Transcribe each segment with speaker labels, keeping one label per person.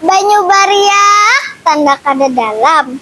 Speaker 1: Banyu bariak tanda kada dalam.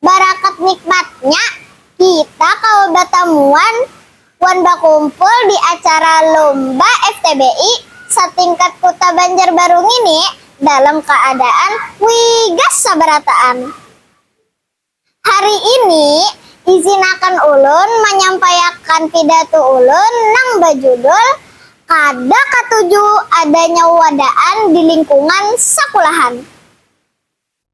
Speaker 1: Barakat nikmatnya, kita kawa batamuan wan bakumpul di acara Lomba FTBI satingkat Kuta Banjarbaru ngini dalam kaadaan wigas sabarataan. Hari ini, izinakan ulun manyampaiakan pidatu ulun nang bajudul Kada Katuju Adanya Wadaan di Lingkungan Sakulahan.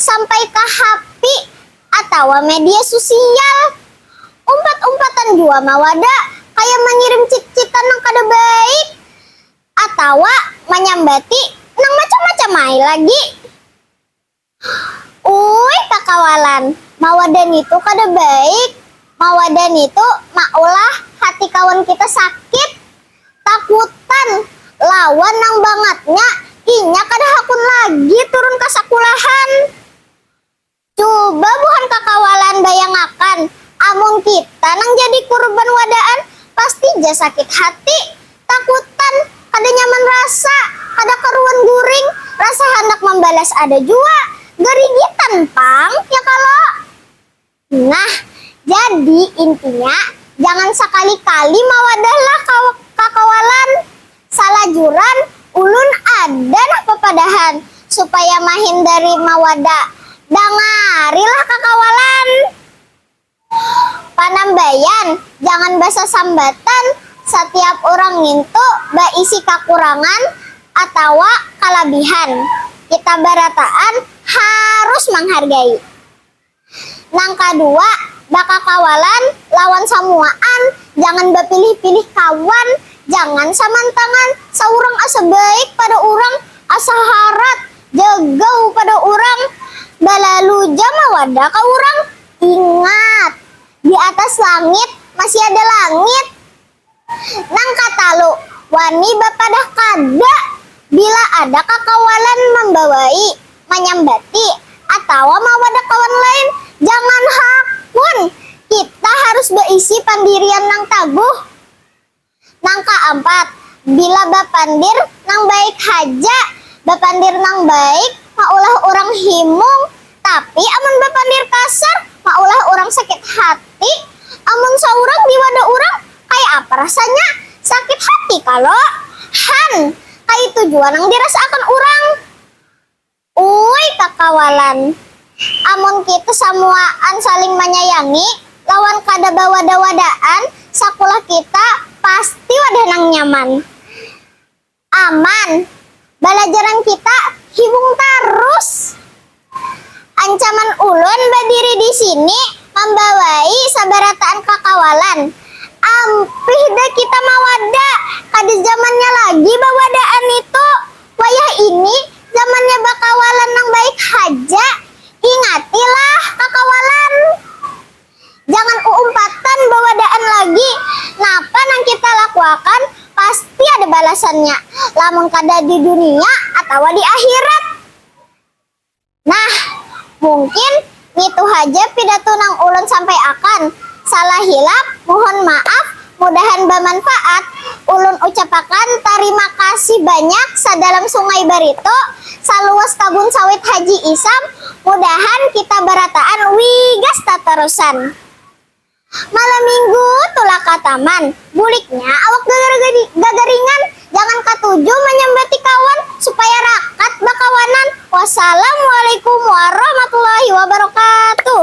Speaker 1: sampai ka hapi atawa media susial. Umpat-umpatan jua mawada kaya mangirim cit-citan nang kada baik atawa manyambati nang macam-macam ai lagi. Uui kakawalan, mawada nitu kada baik, mawada nitu maulah hati kawan kita sakit. Takutan lawan nang bangatnya, inya kada hakun lagi turun ka sakulahan. Cuba buhan kakawalan bayangakan, amun kita nang jadi kurban wadaan, pasti ja sakit hati, takutan, kada nyaman rasa, kada karuan guring, rasa handak mambalas ada jua, garigitan pang, ya kalo? Nah, jadi intinya jangan sakali-kali mawadahlah ka kakawalan. Salajuran ulun ada nah papadahan supaya mahindari mawada. Dangarilah kakawalan! Panambayan, jangan basasambatan satiap urang ngintu baisi kakurangan atawa kalabihan. Kita barataan harus manghargai. Nang kadua, bakakawalan lawan samuaan, jangan bapilih-pilih kawan, jangan samantangan, saurang asa baik pada urang, asa harat, jagau pada urang, balalu ja mawadah ka urang. Ingat, di atas langit masih ada langit. Nang katalu, wani bapadah kada bila ada kakawalan mambawai, manyambati, atawa mawadak kawan lain. Jangan hakun, kita harus baisi pandirian nang taguh. Nang kaampat, bila bapandir nang baik haja. Bapandir nang baik maulah urang himung Tapi amun bapandir kasar maulah urang sakit hati, amun saurang di wadah urang kaya apa rasanya? Sakit hati kalo? Han, kaitu jua nang dirasaakan urang. Uui kakawalan, amun kita samuaan saling manyayangi lawan kada bawadah-wadaan, sakulah kita pasti wadah nang nyaman. Aman. Balajaran kita hibung tarus. Ancaman ulun badiri di sini mambawai sabarataan kakawalan. Ampih dah kita mawada. Kada zamannya lagi bawadaan nitu. Wayah ini zamannya bakawalan nang baik haja. Ingatilah kakawalan. Jangan uumpatan bawadaan lagi, napa nang kita lakuakan pasti ada balasannya, lamun kada di dunia atawa di akhirat. Nah, mungkin ngitu haja pidatu nang ulun sampaiakan, salah hilap muhun maaf, Mudahan bamanfaat, ulun ucapakan tarima kasih banyak sadalam sungai baritu, saluas kabun sawit haji isam, mudahan kita barataan wigas tatarusan. Malam minggu tulak ka taman, buliknya awak gagaringan, jangan katuju manyambati kawan supaya rakat bakawanan, wasalam walikum warahmatullahi wabarakatuh.